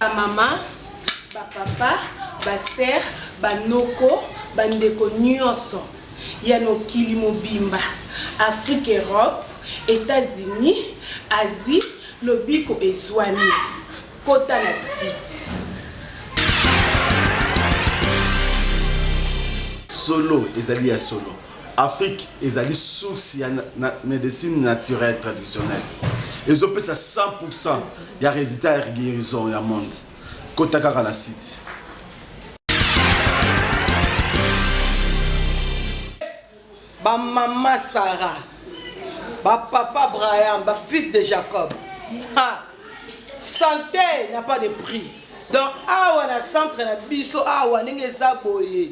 bamama bapapa basere banoko bandeko nyonso ya mokili mobimba afrique europe etats-unis asie lobiko ezwami kota na site solo ezali ya solo Afrique ezali source ya medecine naturelle traditionnelle ezopesa 100% ya resultat ya guérison ya monde kota kaka na site ba mama Sarah ba papa Abraham ba fils de Jacob ha santé n'a pas de prix donc awa na centre na biso awa ndenge eza boye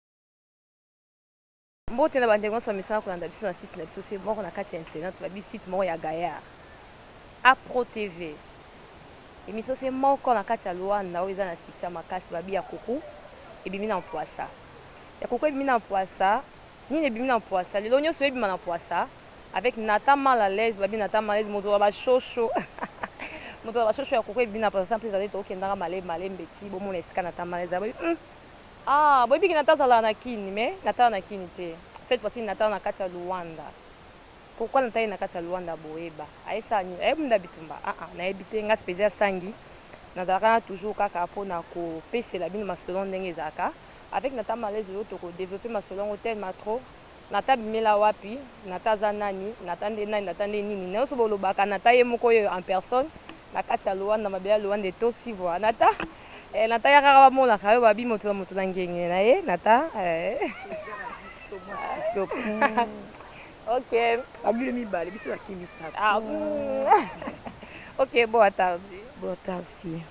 Mbote na bandeko nyonso bamesana kolanda biso na site na biso se moko na kati ya internet babi site moko ya Gaillard Apro TV emission se moko na kati ya Luanda oyo eza na succès ya makasi babi ya kuku ebimi na mpwasa ya kuku ebimi na mpwasa nini ebimi na mpwasa lelo nyonso ebima na mpwasa avec Nata mal à l'aise babi Nata mal à l'aise moto ya bashosho moto ya bashosho ya kuku ebimi na mpwasa mpe ezali tokendaka male malembe ti bomona esika Nata mal à l'aise babi mm. Ah boyebi ke Nathan azalaka na kin mais Nathan na kin te cette fois ci Nathan na kati ya Luanda pourquoi Nathan aye na kati ya Luanda boye ba aye sala nini aye bunda bitumba ah ah nayebi te nga spezia sangi nazalaka na toujours kaka pona ko pesela bino masolo ndenge ezalaka avec Nathan Malaise lelo toko developper masolo yango telma trop Nata abimela wapi? Nata aza nani? Nata nde nani? Nata nde nini? Nionso bolobaka Nata ye moko oyo en personne na kati ya Luanda, mabele ya Luanda etosi bwa Nata eh, Nata yaka kaka bamonaka yo babi moto na moto na ngenge na ye Nata eh ok ba mbula mibale biso na kimisaka ah ok bon atardi bon atardi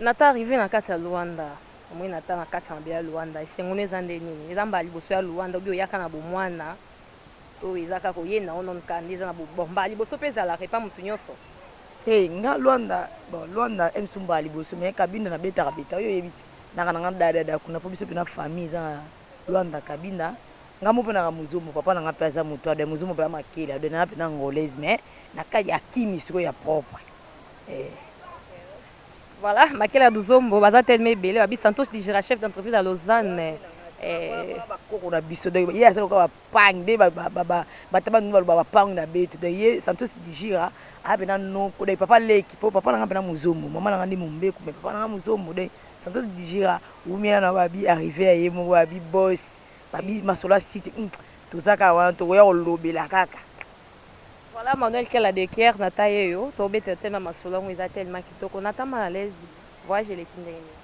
Nathan arrive na kati ya Luanda omoni Nathan na kati ya mabele ya Luanda esengo no eza nde nini eza mbala liboso ya Luanda obi oyaka na bomwana oyo eza kaka oye na onon ka nde eza na bon mbala liboso mpe ezalaka epa motu nyonso te nga Luanda bon Luanda emso mbala liboso me kabinda na betaka beta oyo oyebi te naka na nga dadada kuna mpo biso mpena famille eza na Luanda kabinda nga mope naka mozombo papa na nga mpe aza moto ade mozombo mpe ya makele ade na nga mpe na angolaise me na kati ya kimi siko ya propre eh. Voilà makela ya luzombo baza tellement ebele babi santos dijera chef d'entreprise ya lausanne eh. bakoko na biso donc ye aza loka bapangi nde bataba nunu baloba bapangi na betu donc ye santos dijira aa mpena noko donc papa leki mpo papa nanga mpena mozombo mama nanga nde mombeku mais papa nanga mozombo donc santos dijira wumiela na babi arrive ya ye moko babi bos babi masolo ya site hmm, tozaka wana tokoya kolobela kaka Voilà Manuel quel a de coeur na ta ye yo to beta te na masolo yango eza tellement kitoko na ta mal à l'aise voyage eleki ndenge nini.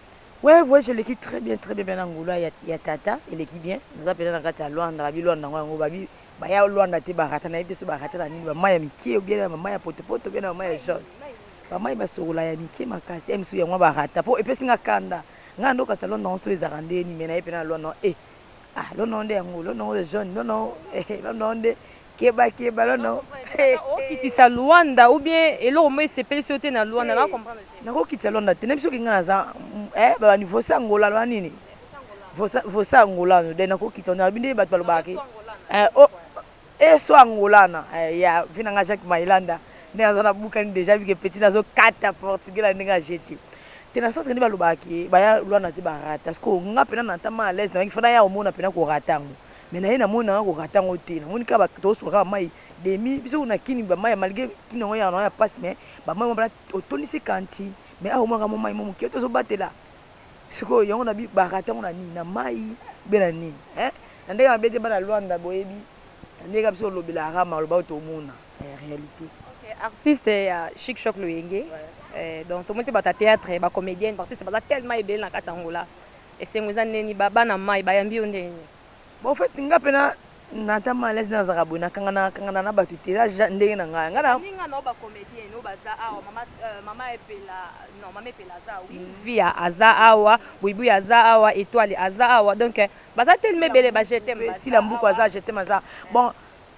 Ouais voyage eleki très bien très bien bien na Angola ya ya tata eleki bien naza pena na kati ya Luanda ba bi Luanda yango yango ba bi ba ya Luanda te ba rata na yebi te soki ba rata na nini ba mayi ya mikie ou bien ba mayi ya poto poto ou bien na ba mayi ya jaune ba mayi ba sokola ya mikie makasi eh misusu yango ba rata po epesi nga kanda nga na ndoka sa Luanda yango soki ezalaka ndenge nini mais na ye pena na Luanda eh ah Luanda yango nde yango Luanda yango ya jaune Luanda yango eh Luanda yango nde Keba keba lo no. Okitisa Luanda ou bien eloko moko esepelisi yo te na Luanda na comprendre te. Nakokitisa Luanda te nayebi soki nga naza eh ba bandi vosa Angola loba nini vosa vosa Angola no de nakokitisa na binde bato balobaka ke eh oh eso Angola na eh ya vina nga Jacques Mailanda nde naza na bukani deja bike petit nazo kata portugais na ndenge ajete te na sasa nde balobaka ke baya Luanda te barata siko nga pena na tama à l'aise na bangi fana ya omona pena korata yango Mais naye namoni nanga ko rata ngo te namoni kaka ba tozo suka kaka mayi demi biso kuna na kin ba mayi malgre kin yango ya nao ya pasi mais ba mayi wana otondisi kanti mais awa omonaka mua mayi mua mukie tozo batela sikoyo yango na bi ba rata ngo na nini na mayi be na nini hein na ndenge mabe te bana Luanda boyebi na ndenge kaka biso olobela kaka maloba oyo tomona eh, realite artiste ya chic choc loyenge eh, donc tomoni mpe bata theatre ba comedienne ba artiste baza tellement ebele na kati ya ngola Esengo eza ndeni ba bana mayi bayambi yo ndenge nini? Bon en fait nga pe na na ta mal aise na zaka boye na kanga na kanga na na batu te eza ndenge na nga nga na ba ninga na yo ba comedienne oyo baza awa mama mama epela non mama epela aza oui viya aza awa buibui aza awa etoile aza awa donc baza telema ebele ba je t'aime sila mbuku aza je t'aime aza bon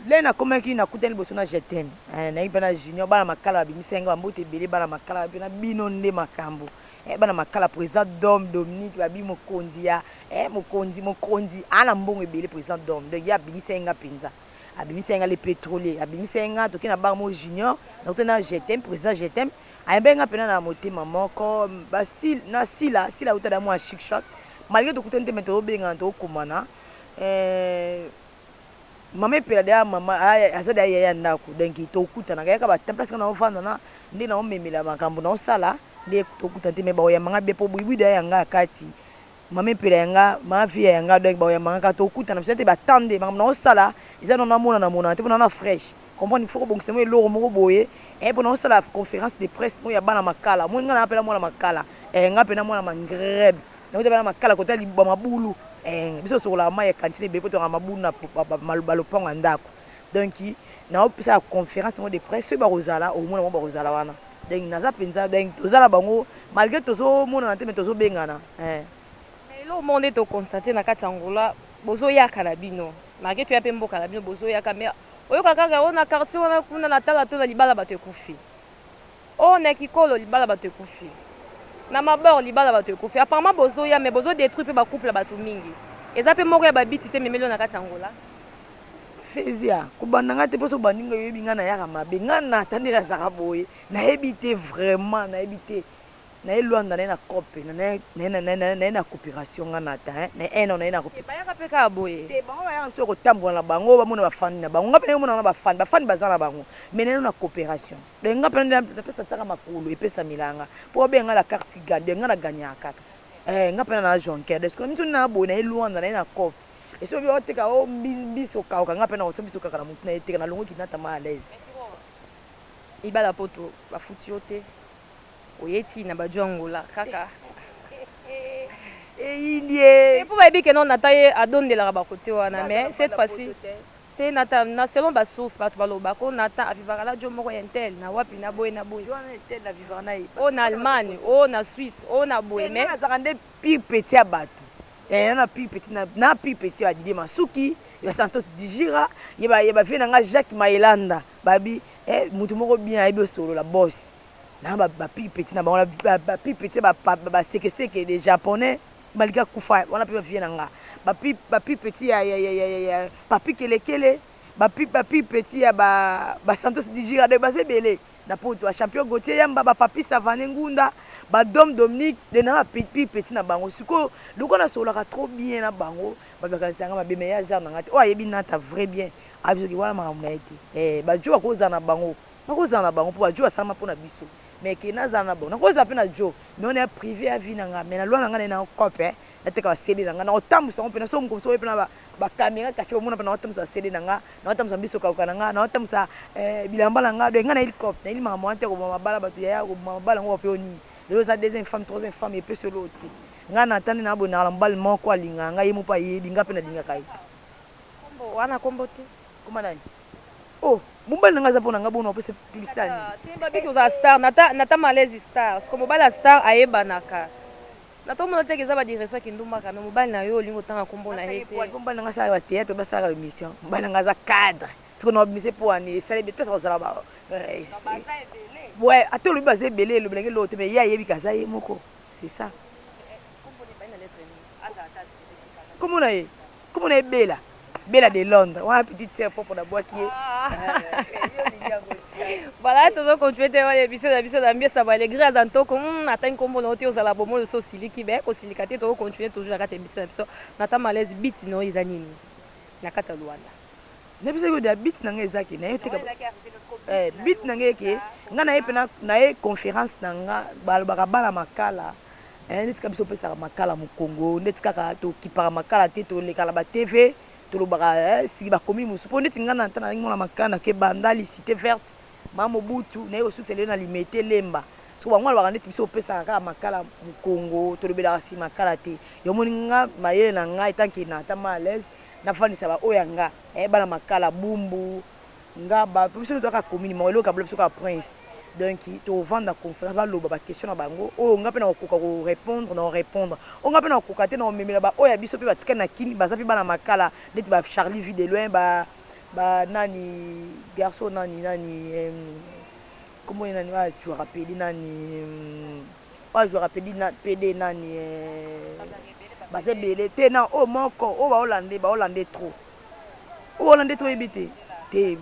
Lelo nakomaki nakutani liboso na je t'aime eh, nayebi mpe na Junior bana makala babimisaki nga bambote ebele bana makala mpe na bino nde makambo eh, bana makala president Dom Dominique babi mokonzi ya eh, mokonzi mokonzi ana mbongo ebele president Dom donc ye abimisaki nga mpenza abimisaki nga le petrolier abimisaki nga toke na bar mo Junior nakutani na je t'aime president je t'aime ayambaki nga mpena na motema moko basile na sila sila utala mwa chic choc malgré tokutani te me tozobengana tokokomana eh, Maman epela dejà maman aza dejà yaya ya ndaku donc to kutanaka yaka ba temps place nga nao vanda na nde nao memela makambu nao sala nde to kutana te mais bao yamba nga bien po buyi buyi dejà ya nga kati maman epela ya nga ma vie ya nga donc bao yamba nga kaka to kutana biso dejà te ba temps nde makambu nao sala eza nao na monana monana te po nao na fraiche comprendre il faut ko bongisa mua eloko moko boye eh po nao sala conference de presse oyo ya bana makala omoni nga naza penza mwana makala eh nga penza mwana mangrebe Nakuta bana makala kota libwa mabulu eh, biso sokolaka mai ya kantine ebele mpo tokaka mabulu na balopango ya ndako donc naopesa conference yango de presse soki bakozala omona bango bakozala wana donc naza mpenza donc toza na bango malgré tozomonana te me tozobengana eh. eloko moko nde tokonstate na kati ya ngola bozoyaka na bino malgré toya mpe mboka na bino bozoyaka me oyoka kaka ona quartier wana kuna na tala to na libala bato ekufi Oh na ekikolo libala batu ekufi na mabor libala batu ekufi apparement bozoya mais bozo detruit pe ba couple ya batu mingi eza pe moko ya ba biti te memeli oyo na kati ya Angola. Fezia kobanda nga te po soki obandi nga oyebi nga nayaka mabe nga nata nde nazaka boye nayebi te vraiment nayebi te naye luanda naye na cope naye na cooperation nga nata hein na un ans naye na cooperation te bayaka pe kaka boye te bango bayaka misusu ya kotambola na bango bamona ba fandi na bango nga pe naye omona nga na ba fandi ba fandi baza na bango mais naye na cooperation Donc nga pena nde na pesa tsaka makolo epesa milanga po obenga nga la carte qui gagne donc nga na gagnaka kaka eh nga pena na jonker donc sikoyo miso na boye na ye luanda na ye na coop et soki olobi oteka o mbisi okauka nga pena otia biso kaka na mutu na ye teka na longwe kinata ma à l'aise. Ibala poto ba futi yo te oye ti na baju angola kaka eyindiee. Te po bayebi que non nata ye adondelaka ba cote wana mais cette fois ci. Te Nathan na selon ba source batu baloba ko Nathan a vivaka na djo moko ya intel na wapi na boye na boye. Djo wana ya intel na vivaka naye oh na Allemagne oh na Suisse oh na boye mais. Nga nazalaka nde pire petit ya batu eh na pire petit na na pire petit ya ba Didier Masuki ya ba Santos Dijira ya ba ya ba vieux na nga Jacques Mayelanda ba bi eh mutu moko bien ayebi osolola boss na ba ba pire petit na bango ba pire petit ya ba ba sekeseke des japonais Malika akufa wana pe ba vieux na nga ba pi ba pi petit ya ya ya ya ya papy kelekele ba pi ba pi petit ya ba ba santos dijira donc baza ebele na poto ba champion gautier yamba ba papy savane ngunda ba dom dominique donc naza ba pi pi petit na bango sikoyo lokola na sololaka trop bien na bango bato bakanisaka nga mabe mais ya genre na nga te oyo ayebi nata vrai bien ayebi soki wana makambo na ye te eh ba djo bakozala na bango Nakozala na bango po ba djo asalama po na biso mais ke nazala na bango nakozala pe na djo mais wana ya prive ya vie na nga mais na loi na nga naye nao cop eh nateka ba CD na nga nao tambusa yango pena soki mokolo mosusu oye pena ba ba camera cache omona pena nao tambusa ba CD na nga nao tambusa mbisi okauka na nga nao tambusa eh bilamba na nga donc nga nayeli cop nayeli makambo wana te ya koboma mabala batu yaya koboma mabala yango wapi oyo nini lelo oza deuxième femme troisième femme epesi yo eloko te nga na tandi na bonaka na mobali moko alingaka nga ye moko pe ayebi nga pe nalingaka ye Kombo wana kombo te. Koma nani? Oh mobali na nga aza pona nga bono apesa publicité ya nini? Te ba biki ozala star nata nata malaise star siko mobali ya star ayebanaka nata omona te ke eza ba direction ya kindumba ka mais mobali na yo olingi otanga kombo na ye te po mobali na nga asalaka ba theatre pe asalaka ba emission mobali na nga aza cadre siko na obmise po ani esali place ya kozala ba ata olobi baza ebele elobela nga eloko te mais ye ayebi ke aza ye moko c'est ça. Kombo na ye, kombo na ye Bella. Bella de Londres. Wana petite sœur propre na bwaki ye. Voilà, tozo continuer te oye biso na biso na mbiesa ba alegria za ntoko. Hmm, atangi kombo na ote ozala bomo yo so siliki be ko silika te tozo continuer toujours na kati ya biso na biso. Na ta malaise beat no eza nini? Na kati ya Luanda. Na biso ko da beat na nga eza ke na yo te ka. Eh, beat na nga ke nga na ye pena na ye conférence na nga balobaka bana makala. Eeh neti kaka biso pesaka makala mu Congo neti kaka to kipaka makala te to leka na ba TV to lobaka eeh siki ba komi musu po neti nga na ta nazalaki mwana makala na ke bandali cite verte ma mobutu naye ko sukisa lelo na limete lemba so bango ba lobaka neti biso to pesaka kaka makala mu Congo to lobelaka si makala te yo moni nga mayele na nga etant ke na ta ma alaise na fandisa ba oyo ya nga eeh bana makala bumbu Nga ba biso nde toyaka commune moko eloko ya bula biso kaka prince donc tovanda na conference baloba ba question na bango oyo nga pe nakokoka ko repondre nako repondre oyo nga pe nakokoka te nakomemela ba oyo ya biso pe batikali na kin baza pe bana makala neti ba charly vue de loin ba ba nani garçon nani nani kombo na ye nani oyo azuaka pede nani oyo azuaka pede na pede nani baza ebele te na oyo moko oyo ba hollandais ba hollandais trop Oyo wana nde toyebi te te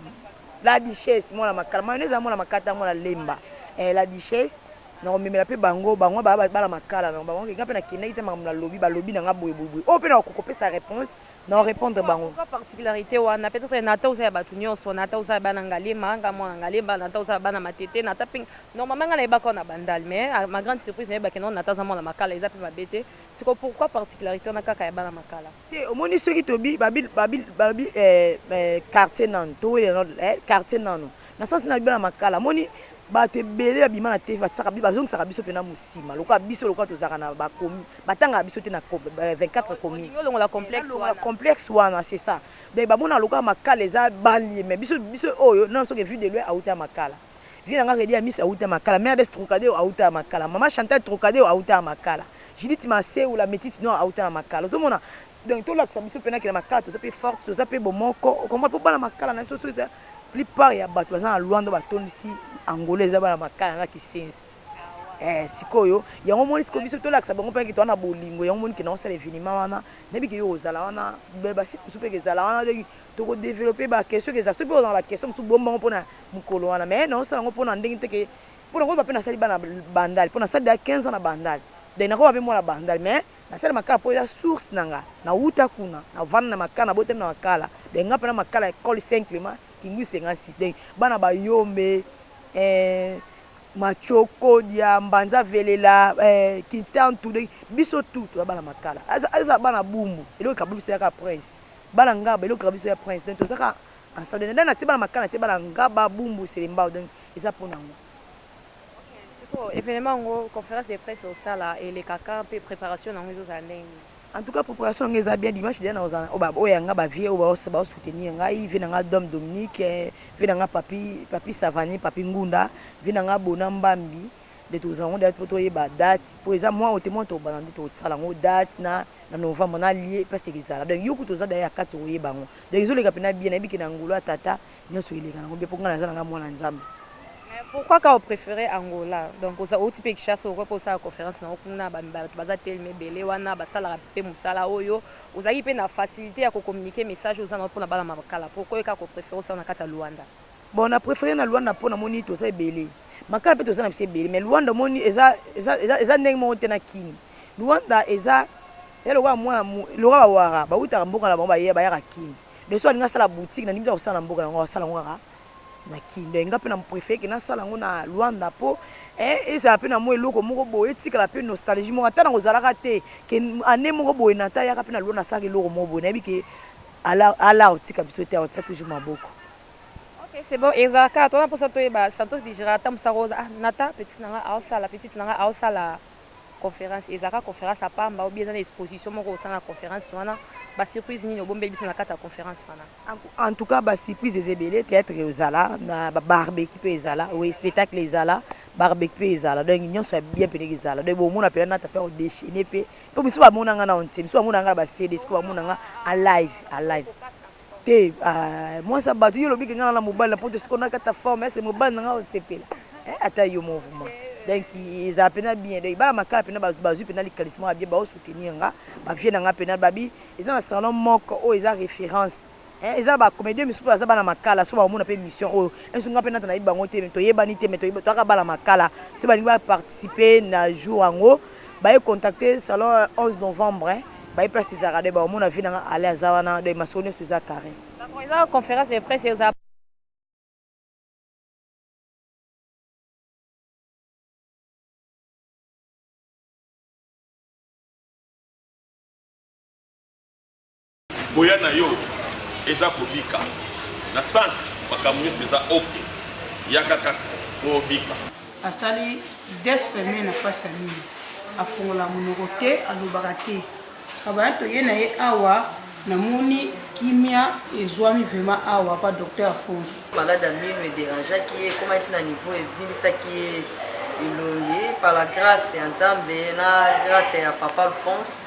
la duchesse mwana makala mayonnaise mwana makata mwana lemba eh, la duchesse nakomemela mpe bango bango baya bana makala na bango kenga mpe nakendaki te makambo nalobi balobi na nga boye boye boye oyo mpe na kokopesa réponse na orépondre bango particularité wana peut-être nata oza ya bato nyonso nata oza ya bana ngalema nga mwana ngalema nata oza ya bana matete nata mpe normalement nga nayebaka na bandal mais ah, ma grande surprise nayebaki non nata aza mwana makala eza mpe mabe te siko pourquoi particularité wana kaka ya bana makala Te omoni soki tobi babi babi babi eh, eh, quartier nanu towele nanu eh, quartier nanu na sens na biba na makala moni bato ebele babima na TV batisaka biso bazongisaka biso mpena mosima lokola biso lokola tozalaka na bakomi batangaka biso te na 24 komi complexe wana c'est ça donc bamonaka lokola makala eza balie mais biso biso oyo nano soki vue de loin auta ya makala Vieux na nga Reddy Amiss awuta Makala, Mère Bess Trocadero awuta Makala, Maman Chantal Trocadero awuta Makala, Judith Masewu la Metisse Noire awuta Makala. Ozo mona? Donc to lakisa biso pena ke na Makala toza pe forte, toza pe bomoko. O comprendre? Po bana Makala na biso soki eza plupart ya batu baza na Luanda ba tondisi Angola eza bana Makala na Kisenzi. Eh sikoyo yango omoni sikoyo biso to lakisa bango pena ke toza na bolingo yango omoni ke nao sala evenement wana na yebi ke yo ozala wana ba site mosusu pe eke zala wana donc toko developper ba question eke zala soki pe oza na ba question mosusu bomba yango pona mukolo wana mais nazo sala ngo pona ndenge te ke pona koyeba pe nasali bana bandal pona sali deja 15 ans na bandal donc nakoba pe mwana bandal mais nasali makala po eza source na nga na wuta kuna na vanda na makala na botami na makala donc nga pena makala ecole saint clement kingui 56 donc bana bayombe eh, macho kodia mbanza velela eh, kintantu donc biso tu toza bana makala aza bana bumbu eloko kabuliso yaka prince bana ngaba eloko kabuliso ya prince donc tozaka Ensemble na na tibala makana tibala ngaba bumbu selembao donc eza pona ngo. Sikoyo evenement yango conference de presse osala eleka quand mpe preparation na yango ezozala ndenge nini? En tout cas preparation na nga eza bien dimanche dejà nakozala na oyo ya nga ba vieux oyo bao soutenir ngai vieux na nga Dom Dominique vieux na nga Papy Papy Savanier Papy Ngunda vieux na nga Bona Mbambi nde tozala ngo date po toyeba date po eza mwa ote mwa tobana nde tosala ngo date na na novembre na lie place ekezala donc yo kutu oza daya ya kati okoyeba ngo donc ezoleka mpena bien nayebi ke na ngolo ya tata nyonso eleka nango bien po ngai naza na ngai mwana nzambe pourquoi ka oprefere angola donc oza outi mpe kishasa okoki mpe osala conférence nango kuna bato baza telema ebele wana basalaka mpe mosala oyo ozalaki mpe na facilité ya kocommunike message oza nango mpona bana makala pourquoi ka koprefere osala na kati ya luanda Bon na prefere na Luanda po namoni toza ebele makala pe toza na biso ebele mais Luanda omoni eza eza eza eza ndenge moko te na Kin Luanda eza eza lokola mua lokola ba wara bawutaka mboka na bango baye bayaka Kin donc soki alingi asala boutique na ndimi te akosala na mboka na yango akosala yango kaka na Kin donc nga pe na prefere ke nasala yango na Luanda po eh ezala pe na mua eloko moko boye etikala pe nostalgie moko ata na kozalaka te ke annee moko boye na ta yaka pe na Luanda asalaka eloko moko boye nayebi ke ala ala akotika biso te akotia toujours maboko Ok c'est bon ezalaka kaka toza na posa toyeba Santos digera ata musala oza ah nata petite na nga azo sala petite na nga azo sala conference ezalaka kaka conference ya pamba ou bien eza na exposition moko osala na conference wana ba surprise nini obombeli biso na kati ya conference wana. En tout cas ba surprise eza ebele theatre eozala na ba barbecue pe ezala oui spectacle ezala barbecue pe ezala donc nionso ya bien penza ezala donc bo mona penza nata pe ako dechainer pe po misusu ba mona nga nanu te misusu ba mona nga na ba CD sikoyo ba mona nga en live en live. Te aah mwasi ya batu yo olobi ke nga naza na mobali na poto sikoyo nakata forme est ce que mobali na nga akosepela eh ata yo moko vraiment donc ezala pena bien donc bana makala pena bazwi pena likanisi moko ya bien bao soutenir nga ba vieux na nga pena babi eza na salon moko oyo eza reference eh eza na ba comedien misusu baza bana makala soki bakomona pe emission oyo un jour nga pe nata nayebi bango te mais toyebani te mais toyeba toza kaka bana makala soki balingi ba participer na jour yango baye contacter salon 11 novembre hein. baye place ezalaka de baomona vie na nga ale aza wana de masolo nyonso eza carré D'accord, eza conférence de presse eza koya na yo eza kobika na centre makambo nyonso eza ok yaka kaka po obika asali de semaine na mpasi ya nini afongola monoko te alobaka te kabaya toye na ye awa namoni kimia ezwami vrema awa pa docteur afonso malade ya mino ederangeaki ye ekoma ti na niveau ebimisaki ye elongi par la grâce ya nzambe na grâce ya papa alphonse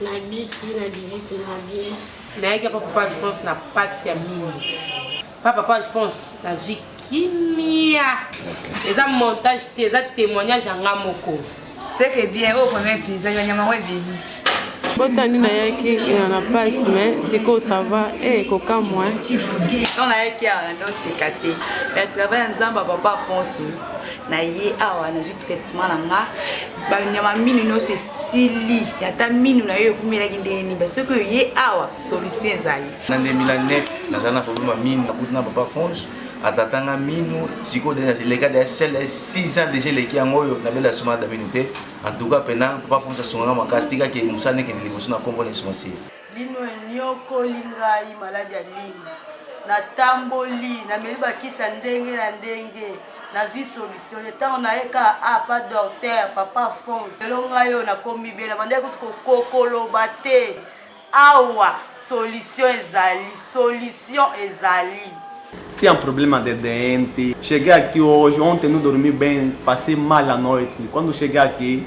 nabiki nabiki mpenza bien nayaki apa papa alphonse na mpasi ya mingi pa papa alphonse nazwi kimia eza montage te eza témoignage yanga moko seke bien oyo premier pizza ya nyama ngo ebimi botandi nayaki na na pasi me sikoyo sava e eh, kokamwa ntango nayaki awa na ndoseka te me travail ya nzambe ya papa afonso na ye awa nazwi traitement na nga banyama mino nyonso esili ata mino na yo ekumelaki ndenge nini ba soki oye awa solution ezali na 2009 naza na problème ya mino nakuti na papa fonce atatanga mino sikoyo leka da sel 6 ans déjà eleki yango oyo nabela soma da mino te en tout cas mpena papa fonce asungaka makasi tikaki mosala nekende liboso na nkombo na esomasi Lino enyokoli ngai maladi ya lino. Natamboli, nameli bakisa ndenge na ndenge. nazwi solution te ntango naye ka a ah, pa docteur papa fon lelo ngai oyo nakomi bena bandaki kutu kokokoloba te awa solution ezali solution ezali Tem um problema de dente. Cheguei aqui hoje, ontem não dormi bem, passei mal a noite. Quando cheguei aqui,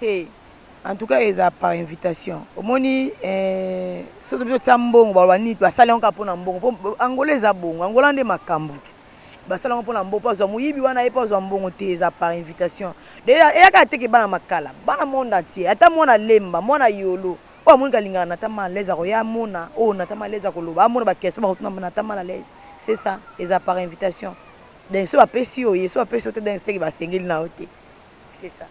He en tout cas eza par invitation omoni eh, soki biso tia mbongo baloba nini basali yango kaka mpona mbongo mpo angola eza bongo angola nde makambo ti basali yango mpona mbongo mpo azwa moyibi wana ye mpo azwa mbongo te eza par invitation de eyaka ateke bana makala bana monde entier ata mwana lemba mwana yolo oyo amoni kalingaka na tama alaise akoya amona oyo na tama alaise akoloba amona bakestion bakotuna na tama alaise c'est ça eza par invitation donc so bapesi yo oye so bapesi yo te donc seke basengeli na yo te C'est ça.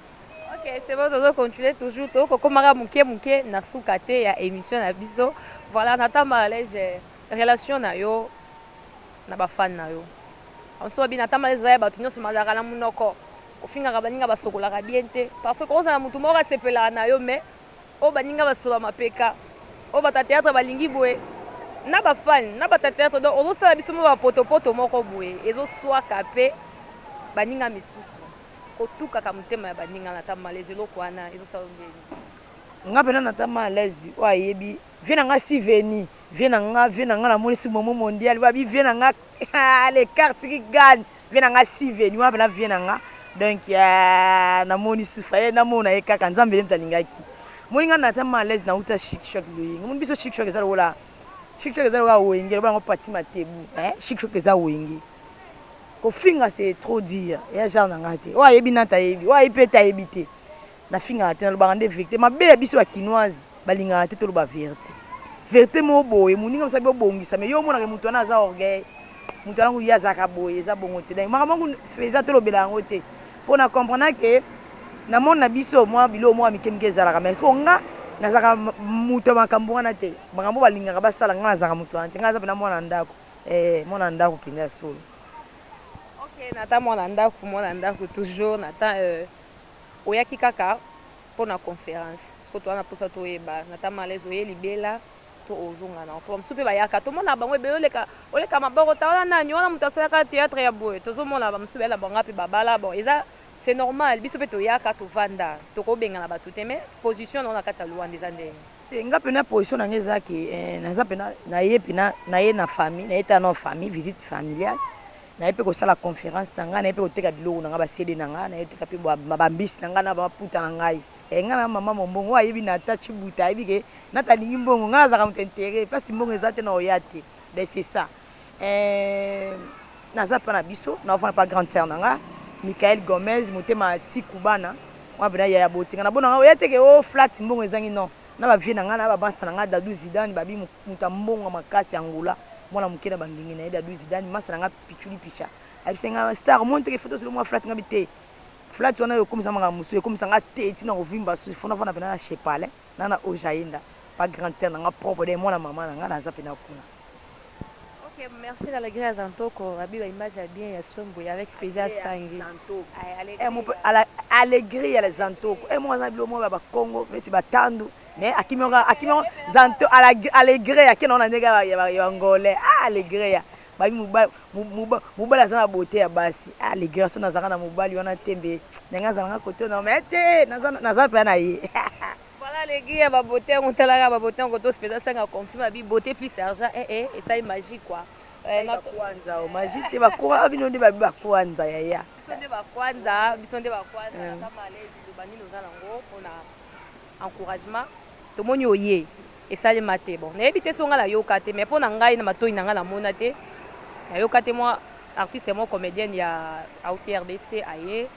Ok, c'est bon, tozo continuer toujours, toko komaka muke muke na suka te ya emission na biso. Voilà, nata malaise relation na yo na ba fan na yo. Amso bi nata malaise ya batu nyoso mazaka na munoko. Ofingaka baninga basokolaka bien te. Parfois koza na mutu moko asepelaka na yo mais o baninga basola mapeka. O bata théâtre balingi boye na ba fan na bata théâtre donc ozo sala biso mo ba poto poto moko boye ezo swaka pe baninga misusu. Otukaka motema ya baninga na ta malaise eloko wana ezo sala yo ndeni? Nga pena na ta malaise oyo ayebi vie na nga si veni vie na nga vie na nga na moni si momo mondial ba bi vie na nga aah les cartes qui gagne vie na nga si veni wana pena vie na nga donc aah na moni si faye na mona ye kaka nzambe nde moto alingaki moni nga na ta malaise na uta chic choc loyenge moni biso chic choc eza lokola chic choc eza lokola wenge lokola ngo pati matebu eh chic choc eza wenge Kofinga c'est trop dire eya genre na nga te oyo ayebi nante ayebi oyo ayebi pe te ayebi te na fingaka te na lobaka nde verite mabe ya biso ba kinoise ba lingaka te toloba verite verite moko boye moninga mosali bo bongisa mais yo omona ke mutu wana aza orgueil mutu wana kutu ye azalaka boye eza bongo te donc makambo yango eza tolobela yango te po na comprendre ke na monde na biso mwa biloko moko ya mike mike ezalaka mais siko nga nazalaka mutu ya makambo wana te makambo balingaka basala nga nazalaka mutu wana te nga naza pena mwana ndako Eh mwana ndaku penza ya solo. Ok nata mwana ndaku mwana ndaku toujours nata euh oyaki kaka pona conference soki toza na posa toyeba nata malaise oye libela to ozonga nao po bamisusu pe bayaka tomonaka bango ebele oleka oleka maboko ta wana nani wana mutu asalaka theatre ya boye tozomona bamisusu baye na bango ape babala bon eza c'est normal biso pe toyaka tovanda tokobengana batu te mais position nao na kati ya luanda eza ndenge Te nga pena position na nga eza ke eh, naza pena na ye pena na ye na famille na ye ta na famille visite familiale na ye pe kosala conférence na nga na ye pe koteka biloko na nga ba CD na nga na ye teka pe ba mbisi na nga na ba puta na ngai eh nga na maman mombongo oyo ayebi na ta chibuta ayebi ke na ta lingi mbongo nga nazaka moto intérêt place mbongo eza te na oya te ben c'est ça Eh, naza mpa na biso naofana mpa grande sœur na nga michael gomez motema ya ti kubana wana mpena yaya botinga na bona nga oya teke o oh, flat mbongo ezangi non na bavie na nga na babansa na nga dadu zidane babi moto ya mbongo makasi ya ngola mwana moke na bangengi na ye dadu zidane masa na nga pichuli picha ayebisa nga star omoni teke foto ozolo mwa flat nga bi te flat wana yo okomisa manga mosusu ekomisa nga te ntina kovimba susu fona fana mpena na chepale na na ojaenda pa grande sœur na nga propre de mwana mama na nga naza mpena kuna Ok merci la lagree ya zantoko abi ba image ya bien ya soin boye avec spesial sangi alegrie ya zantoko e moko aza na bilo moko ya bakongo neti batandu mais akimi yango akimi yango zanto alegreya akenda yango na ndenge ya bangolais a alegreya babi mobali aza na bote ya basi a alegreya so nazalaka na mobali wana te mbe ndenge azalanga kote na mai te naza mpenza na ye Voilà les gars ya ba botin ko tala kaka ba botin ko to speza sanga conflit ma bi beauté puis sergent eh eh esali magie quoi. Eh na kwanza o magie te ba kwa bino nde ba bi ba kwanza yaya. Biso nde ba kwanza biso nde ba kwanza na kama lezi to bani noza nango pona encouragement tomoni oye esalema te bon nayebi te so ngai nayoka te mais mpo na ngai na matoi na ngai namona te nayoka te mwa artiste mwa comédienne ya auti rdc aye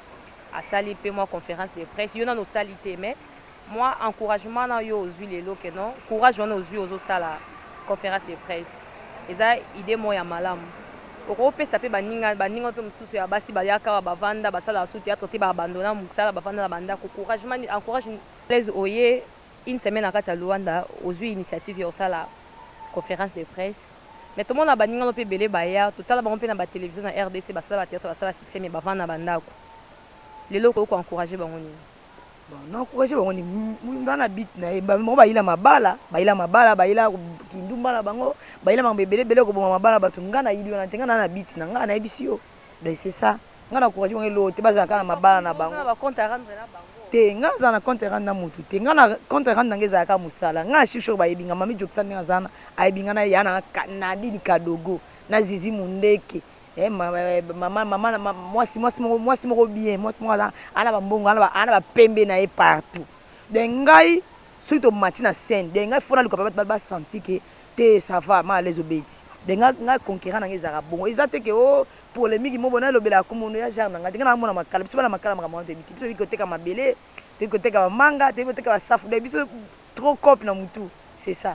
asali pe mwa conference de presse yo nanu osali te mais mwa encouragement na yo ozui lelo que non courage wana ozui ozo sala conference de presse eza idee moko ya malamu okoki opesa pe baninga baninga nayo pe mususu ya basi bayaka awa ba vanda basalaka su theatre te ba abandona musala ba vanda na ba ndaku couragement nini encourage Blaise oye une semaine na kati ya Luanda ozui initiative ya kosala conference de presse Mais tomona baninga no pe ebele baya totala bango pe na ba television na rdc basala ba theatre basala succès mais bavanda na ba ndaku lelo okoki ko encourager bango nini? Bon na encourager bango nini nga na but naye bango bayila mabala bayila mabala bayila kindumba na bango bayila makambo ebele ebele koboma mabala batu nga nayili wana te nga naza na but nanga nayebisi yo donc c'est ça. Nga na courage bango eloko te bazala kaka na mabala na bango. Oza na ba compte à rendre na bango? Te nga na zala na compte à rendre na mutu te nga na compte à rendre na nga ezala kaka musala nga na suis sure bayebi nga mami jokisa ndenge naza wana ayebi nga na ya na nadine kadogo na zizi mundeke eh mama mama na mwasi mwasi moko mwasi moko bien mwasi moko aza ana ba mbongo ana ana ba pembe na ye partout de ngai soki to mati na scène de ngai fona luka ba ba senti que te ça va ma les obeti de ngai ngai conquérant na nga ezala bongo eza te que oh Polemique moko na lobela ya kombo no ya genre na nga te nga na mona makala biso bana makala makambo wana toyebi te biso toyebi koteka mabele toyebi koteka ba manga toyebi koteka ba safu donc biso trop coop na mutu c'est ça.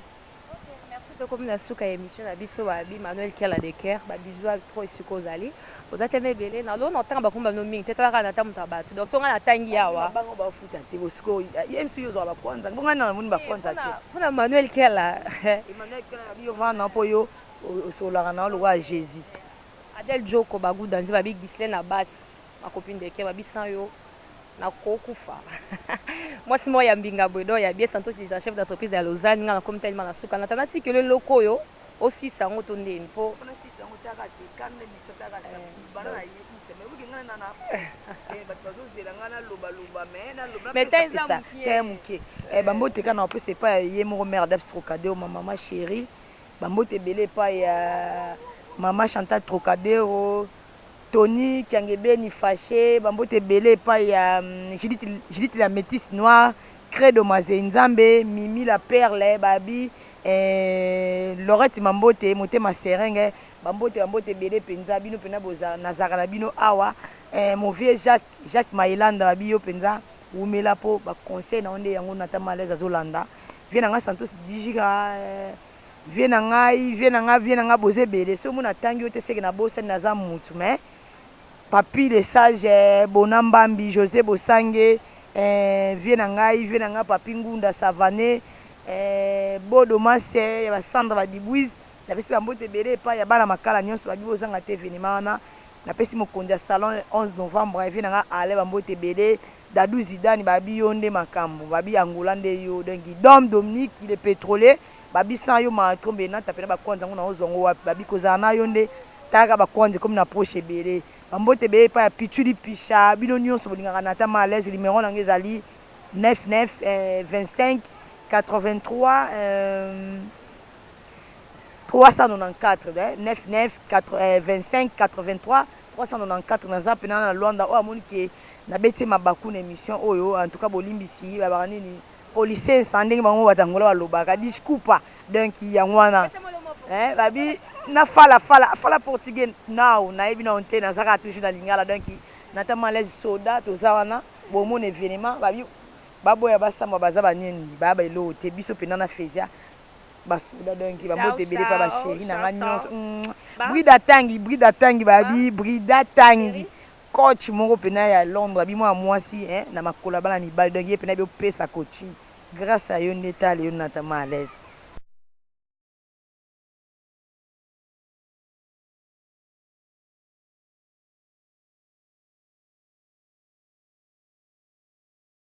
Merci tokomi na suka ya emission na biso ba bi Manuel kiala de coeur ba bisous ya trop esika ozali oza tellement ebele na lona otanga ba kombo no mingi te tala kaka na ta mutu ya batu donc soki nga na tangi awa ba bango ba futa te bo siko ye misusu yo zwa ba kwanza bo nga na moni ba kwanza te pona Manuel kiala Emmanuel kiala yo vanda po yo osolaka na yo lokola Jesus. Adel djoko ba gout danze ba bi Ghislaine na bas ma copine de coeur ba bi sans yo na ko kufa mwasi moko ya mbinga boye donc ya bien santo ki za chef d'entreprise ya Lausanne nga na komi tellement na suka na tana ti kelo eloko oyo o sisa yango to ndeni po metaizamukiemukie bambote ka na opesa epa ye moko mère d'abstrocadeo ma mama chérie Ba mbote ebele epai ya mama Chantal Trocadero, Tony Kiangebeni Fache, ba mbote ebele epai ya Judith, Judith la metisse noire, Credo Mazei Nzambe, Mimi la perle, Babi, eh, Laurette Mambote, Motema Serenge, ba mbote, ba mbote ebele penza, bino pena boza, nazalaka na bino awa, eh, mon vieux Jacques, Jacques Maye landa ba bi yo penza wumela po ba conseils na yo nde yango Nathan Malaise azo landa vieux na nga Santos Dijika eh vieux na ngai vieux na nga vieux na nga boza ebele soki omoni na tangi yo te seke na bosani naza mutu mais Papy le sage eh Bona Mbambi Jose Bosange eh vieux na ngai vieux na nga Papy Ngunda Savane eh Bodo Mase ya ba Sandra ba Dibuize napesi ba mbote ebele epayi ya bana makala nionso ba bi bozanga te evenement wana Napesi mokonzi ya salon 11 novembre ya vie na nga Alain ba mbote ebele, Dadou Zidane ba yebi yo nde makambu, ba yebi Angola nde yo donc Guidom Dominique le petrolier ba yebi sans yo maatro mbena tapela ba kwanza yango nao zua ngo wapi, ba yebi kozala na yo nde tala kaka ba kwanza ekomi na poche ebele, ba mbote ebele epai ya Pitshuli Pisha bino nionso bolingaka Nathan Males numero na nga ezali 99 eh 25 83 eh. 394 99453 naza pena na luanda oyo amoni ke na beti ye mabaku na emission oyo en tout cas bolimbisi balobaka nini policensa ndenge bango batu ya angola balobaka discupa donc yango wana eh babi na fala fala fala portugais nao nayebi nao te naza kaka toujours na lingala donc na ta malaise soda toza wana bomona evenement babi baboya basamba baza banini baya ba eloko te biso pena na fezia ba soda donc ba mbote ebele pa ba cheri na nga nionso brida tangi brida tangi ba bi brida tangi coach moko pena ya londre abi mwana mwasi eh na makolo ya bana mibali donc ye pena abi opesa coaching grace a yo nde tala lelo na tama à l'aise